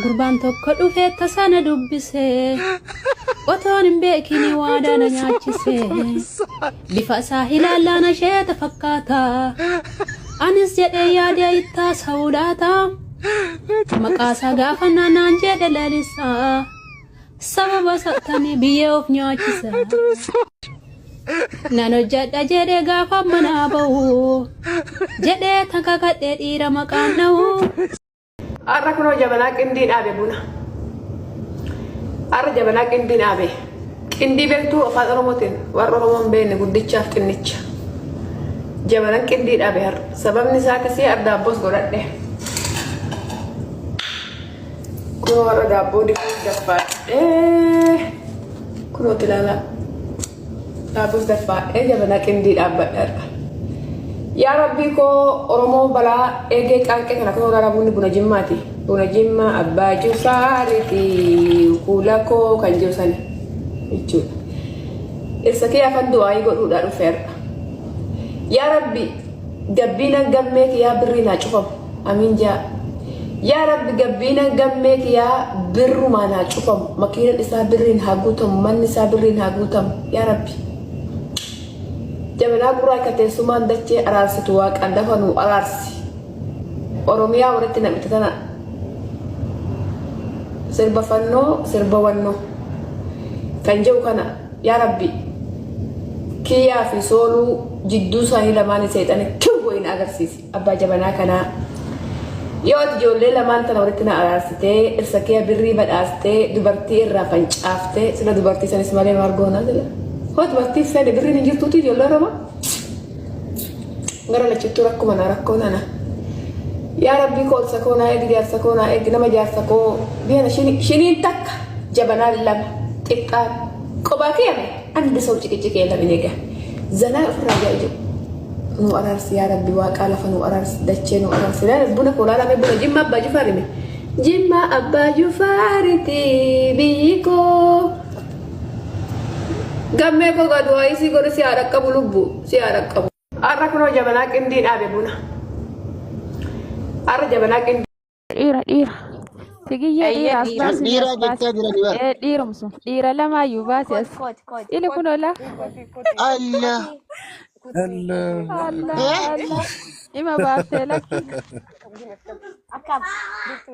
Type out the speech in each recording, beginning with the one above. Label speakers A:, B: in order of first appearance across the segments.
A: Gurbaan tokko dhufe tasa na dubbise. Otoon hin beekin waadaa na nyaachise. Bifa isaa ilaallaan asheeta fakkaata. Anis jedhee yaadee ittaa sa'uu laata. Maqaa isaa gaafannaan naan jedhe lalisaa. Sababa sattanii biyyee of nyaachisa. Nan hojjedha jedhee gaafa manaa bahu. Jedhee tan kakadhee dhiira maqaan dhahu.
B: Har'a kunoo jabanaa qindii dhaabe buna. Har'a jabanaa qindii dhaabe. Qindii beektuu afaan Oromootiin warra Oromoon beekne guddichaaf xinnicha. Jabanaan qindii dhaabe har'a. Sababni isaa akkasii ardaabbos godhadhe. Kunoo warra daabboo dibuuf dabbaadhee kunooti ilaalaa daabboos dabbaadhee jabanaa qindii dhaabbadheerra. Yaa rabbii koo Oromoo balaa eegee qaanqee kana kunoo gara bunni buna jimmaati. Buna jimmaa abbaa jusaariti kuula koo kan jiru sani jechuudha. Dhirsa kee afan du'aayii godhuudhaa dhufeerra. Yaa rabbi Gabbiinan gammee kiyaa birriin haa cufamu amiin jaa yaa rabbi gabbiinan gammee kiyaa birrumaan haa cufamu makiinan isaa birriin haa guutamu manni isaa birriin haa guutamu yaa rabbi jabanaa gurraa ka teessumaan dachee araarsitu waaqaan dafa nuu araarsi oromiyaa walitti nam'ite tana sirba fannoo sirba wannoo kan jedhu kana Yaa rabbi kiyyaa fi sooluu jidduu isaanii lamaanii seexana kiw wayii na agarsiisi abbaa jabanaa kanaa yoo ati ijoollee lamaan tana walitti na araarsitee irsa kiyya birrii badhaastee dubartii irraa fancaaftee sila dubartii sanis malee maal goonaa sila hoo dubartii fedhe birriin hin jirtuuti ijoollee oromoo gara lachuttuu rakkuma na rakkoo nana yaa rabbii koo obsa koo naa eegi jaarsa koo naa eegi nama jaarsa koo biyana shiniin takka jabanaan lama xiqqaan qobaa kee ame ani bisoo ciqiciqee lamin eega zanaa ofirraa jaa ijoo nu araarsi yaa rabbi waaqaa lafa nu araarsi dachee nu araarsi laala buna koo laala mee buna jimma abbaa jifaarime jimma abbaa jifaariti biyyi koo Gammee koo gadu'aa isii godhu si haa dhaqqabu lubbu si haa dhaqqabu. Har'a kunoo jabanaa qindii dhaabe buna. Har'a jabanaa qindii. dhiira dhiira
C: sigiyyee Eeyyee, dhiira as dhiira. baasi Dhiira as baasi. jechaa jirani bara. Ee, dhiirumsu dhiira lamaayyuu baasi as ili kun ola
D: Allah. Hello. alla
C: Eh? alla ima baaftee lakki
E: Akkam. Jirtu.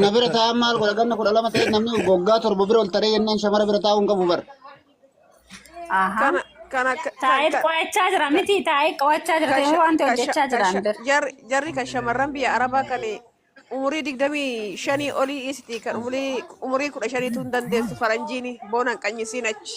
D: Na bira taa'an maal godha ganna kudha lama ta'e namni waggaa torba bira ol taree jennaan shamara bira taa'uu hin qabu bar. Aha.
A: Kana kana
B: ka- Taa'ee ka- qo'achaa
A: jira miti taa'ee qo'achaa jira ka- ta'ee wanti ka- hojjechaa ka- jiraan ka- bira. jarri jarri kan shamarran
B: biyya arabaa kan umurii digdamii shanii olii isiti kan umurii umurii kudha shaniitu hin dandeessu faranjiini boona hin qanyisiin achi.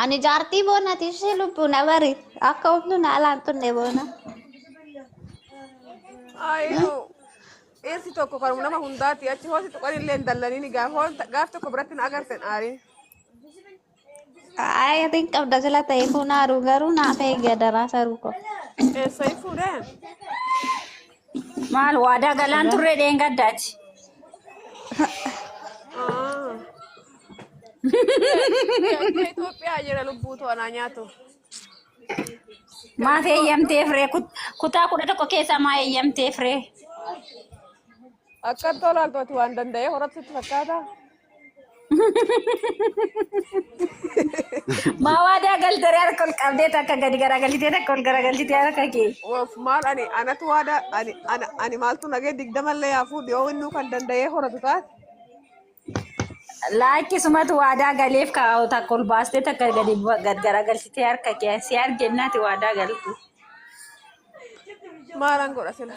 E: Ani jaartii boonati ishee lubbuu na bari akka humnu na alaan tunne boona.
B: Ayuu. Dhirsi tokko kan nama hundaati achi hoosi tuqan illee hin dallaniin gaaf hoon- gaaf tokko biratti na agartan aarii.
E: Ay, atiin qabda sila ta'e kun haaruu garuu naaf eegi adaraa saruu koo. Eessa
B: fuudhee?
A: Maal waadaa galaan turre dheengaddaati. Ah.
B: Akka Itoophiyaa jira lubbuu to'anaa nyaatu.
A: Maaf eeyyamtee firee kutaa kudha tokko keessaa maa eeyyamtee firee.
B: Akka tolaaltooti waan danda'ee horattutti fakkaata.
A: Maa waadaa galtee harka ol qabdee takka gadi garagalchitee takka ol garagalchitee harka kee. Of maal ani
B: anatu waada ani ana ani maaltu nagee digdama illee yaa fuudhi yoo innuu kan danda'ee horatu taate. Laakki
A: sumatu waadaa galeef kaa'u takka ol baastee takka gadi bu- gad garagalchitee harka kee si argennaati waadaa galtu.
B: Maalan godha sila.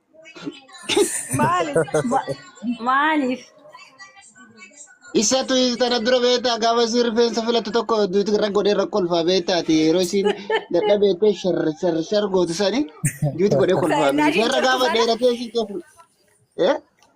A: Maali? Ma- Maaliif?
D: Isatu tana dura beektaa gaafa isiin rifeensa filattu tokko duuti irra godhee rakko kolfaa beektaati yeroo isiin dadha beektee shar shar shar gootu sani duuti godhee kolfaa Kan miti. Isheerra gaafa dheeratee isiin keessa. Eh?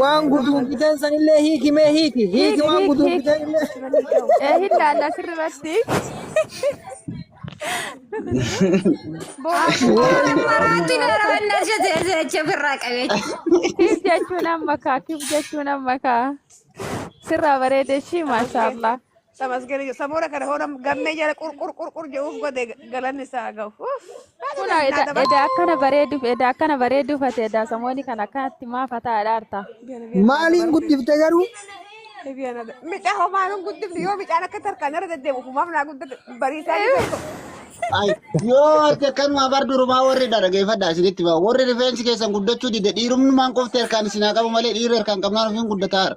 C: Waan
F: guduun fiteen sanillee hiiki mee hiiki. Hiiki waan guduun
C: fiteen illee. Ee hin laalla asirratti. Kiif jechuun amma kaa kiif jechuun amma kaa. Sirraa bareedee shii maashaallah. Tamasgani jo
B: samora kana hona gamme jala qur qur qur qur jo uf gode galanni isaa gahu. Uff. Hada Kuna dal
C: na eda daba. eda akkana bareeduuf eda akkana bareeduuf ati eda samooni kan akkanatti maa fataa dhaarta. Biana biana na Maaliin daba.
F: guddifte garuu? Biana da.
B: Mica homa nun guddif yo mica na katar kana rada demu humam na guddif barisa ni beko. Ay,
D: yoo ati akkanuma bar durumaa warri dhaggeeffadhaa isinitti ba'a. Warri rifeensi keessan guddachuu dide dhiirummaan qofti harkaan isin haa qabu malee dhiirri harkaan qabnaan ofiin guddataara.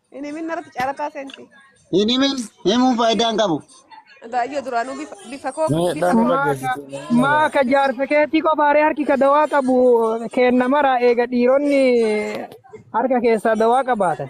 B: Hin himin narratti caarataa seenti. Hin himin
D: himuun faayidaa hin qabu. Baay'ee duraanuu
B: bifa bifa koo Mee bifa dhaan koo. irra Maaka geessite
F: mee nama maaka gaafata. jaarsa keetii qofaaree harki ka dawaa qabu kenna mara eega dhiironni harka keessaa dawaa qabaatan.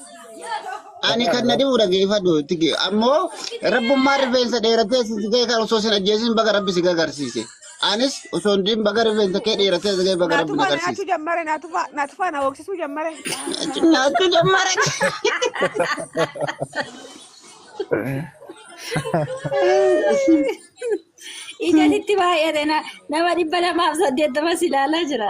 D: Ani kan na dhibu dhageeffadhu itti ge- ammoo rabbummaan rifeensa dheeratee si ga'e kan osoo sin ajjeesin baga rabbi si gagarsiise. Anis osoo hin dhiin baga rifeensa kee dheeratee si ga'e baga rabbi na Naatufaa naachuu garsiise. jammare naatufaa naatufaa
B: na hooksisuu jammare. Nyaachuu jammare.
A: Ijatitti baay'ate na- nama dhibba lamaaf saddeettamas ilaalaa jira.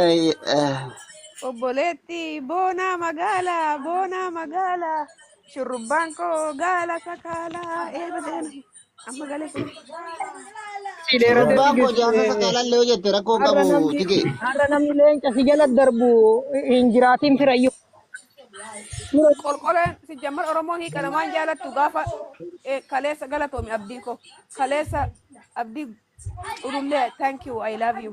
B: Ay, ah, Obboleetti boonaa magaalaa boonaa magaalaa shurrubbaan koo gaala sakaalaa eeba deema amma galee kun Si dheeratee Shurrubbaan
D: koo jaarsa tigiste. sakaalaan illee hojjette rakkoo hin Har'a qabu namni tige. har'a namni leenca
F: si jala darbu hin jiraatin firayyuu. Dura qolqoleen
B: si jammar oromoo hiikana waan jaalattu gaafa eh, kaleessa galatoomi abdii koo kaleessa abdii culullee thank you i love you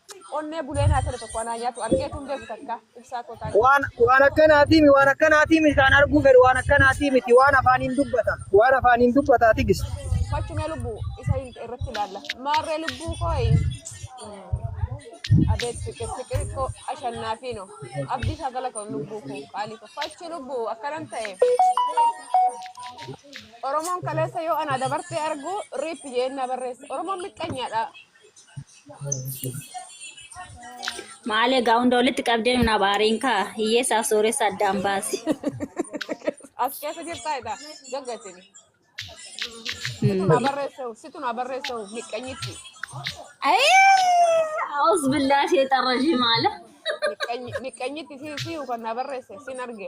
B: Onnee bulee naa tole tokko anaa nyaatu argeetu hin beeku takka ibsaa koo taanki. Waan waan akkanaatiimi
F: waan akkanaatiimi isaan arguu fedhu waan akkanaatiimiti waan afaaniin dubbata waan afaaniin dubbataa tigist. Fachumee lubbuu
B: isa hin irratti ilaalla. Maarree lubbuu kooyi. Abeet fiqir fiqir koo ashannaafi no. Abdii isaa galatoon lubbuu koo qaalii koo. Fachu lubbuu akkanan ta'e. Oromoon kaleessa yoo anaa dabartee argu riip jeen na barreessa. Oromoon miqqanyaadha.
G: Maal egaa hunda walitti qabdee nun abaariin kaa hiyyeessaaf sooressa addaan baasi.
B: As keessa jirtaa egaa gaggatini. Situ naa barreessa'u situ naa barreessa'u miqqanyitti
G: Aus billaa sheexan rajii maala. miqqanyi-
B: miqqanyitti si si kan naa barreesse sin arge.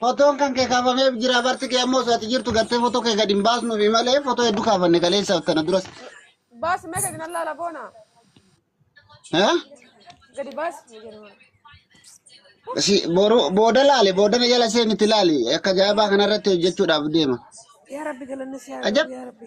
D: Fotoon kan kee kaafamee jira barti kee ammoo osoo ati jirtu gartee fotoo kee gadi hin baasnuufi malee fotoo hedduu kaafanne kaleessa tana duras. Baasi mee
B: gadi nan laala boona. Eh? Gadi baasi mee jedhu. Si
D: boru booda laale booda na jala seenitti laali akka ajaa'ibaa kanarratti hojjechuudhaaf deema. Yaa Rabbi galanni
B: si haa Ajab. galu yaa Rabbi.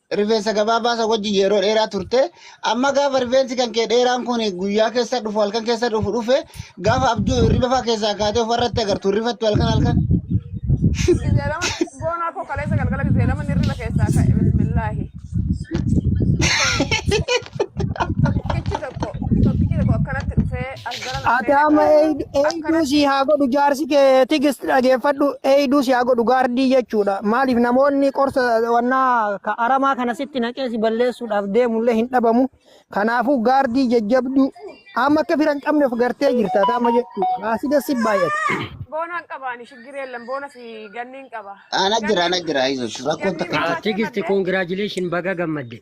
D: Rifeensa gabaabaa isa wajjin yeroo dheeraa turte. Amma gaafa rifeensi kan kee dheeraan kun guyyaa keessa dhufu halkan keessa dhufu dhufe gaafa abjuu hirriba fa'aa keessaa kaatee ofarratti agartu hirrifattu halkan halkan. Gizee lama
B: boonaa koo kaleessa galgala gizee lama hirriba keessaa ka'e bismillaahi. Tokkichi tokko tokkichi tokko akkanatti dhufee Ataama
F: eeyduu sii haa godhu jaarsi kee tigist dhageeffadhu eeyduu sii haa godhu gaardii jechuudha. Maaliif namoonni qorsa wannaa ka aramaa kana sitti naqee si balleessuudhaaf deemullee hin dhabamu. Kanaafuu gaardii jajjabduu amma akka fira hin qabne of gartee jirta ataama jechuudha. Baasii dassi baay'ata. Boonaan qabaani
B: shiggiree lam boona fi ganniin qaba. Ana jira ana jira
D: izo rakkoon takka hin Tigist congratulations
H: baga gammadde.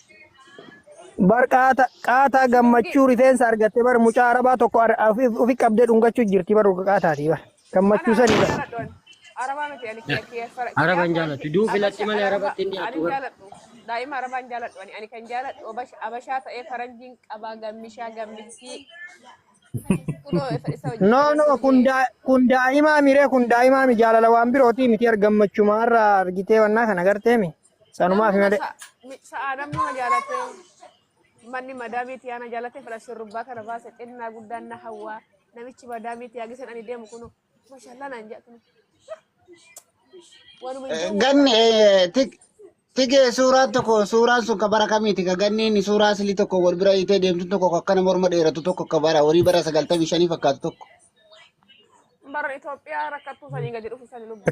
F: Bar qaata qaataa gammachuu rifeensa argatte bar mucaa arabaa tokko ar- ofi ofi qabdee dhungachuu jirti bar dhuga qaataati bar gammachuu sani bar. Arabaa miti ani kiyya kiyya
H: fara. Araba hin jaalatu. Duu filatti malee arabatti hin dhiyaatu. Ani jaaladhu. Daa'ima arabaa
B: hin jaaladhu. Ani ani kan jaaladhu obash- abashaa ta'ee faranjiin qabaa gammishaa gammittii. Kunoo
F: isa isa wajjin No no faranjiin kun daa kun daa'imaa miree kun daa'imaa mi jaalala waan birootii miti ar gammachuma irraa argitee wannaa kana gartee mi. Sanumaa fi malee. Sa'aa namni
B: ma jaalate manni madaamii tiyaa na jaalate fedha shurrubbaa kana baase xinnaa guddaan na hawwaa namichi madaamii tiyaa gisan ani deemu kunu mashallah naan jedha kunu.
D: Wanuma hin deemu. Ganni eh, tik- tikee suuraa tokko suuraan sun ka bara kamiiti ka ganni inni suuraa silii tokko wal bira hiitee deemtu tokko ka akkana morma dheeratu tokko ka bara horii bara sagaltamii shanii fakkaatu tokko.
B: Bara Itoophiyaa rakkattuu sanii gadi dhufu sanii lubbu.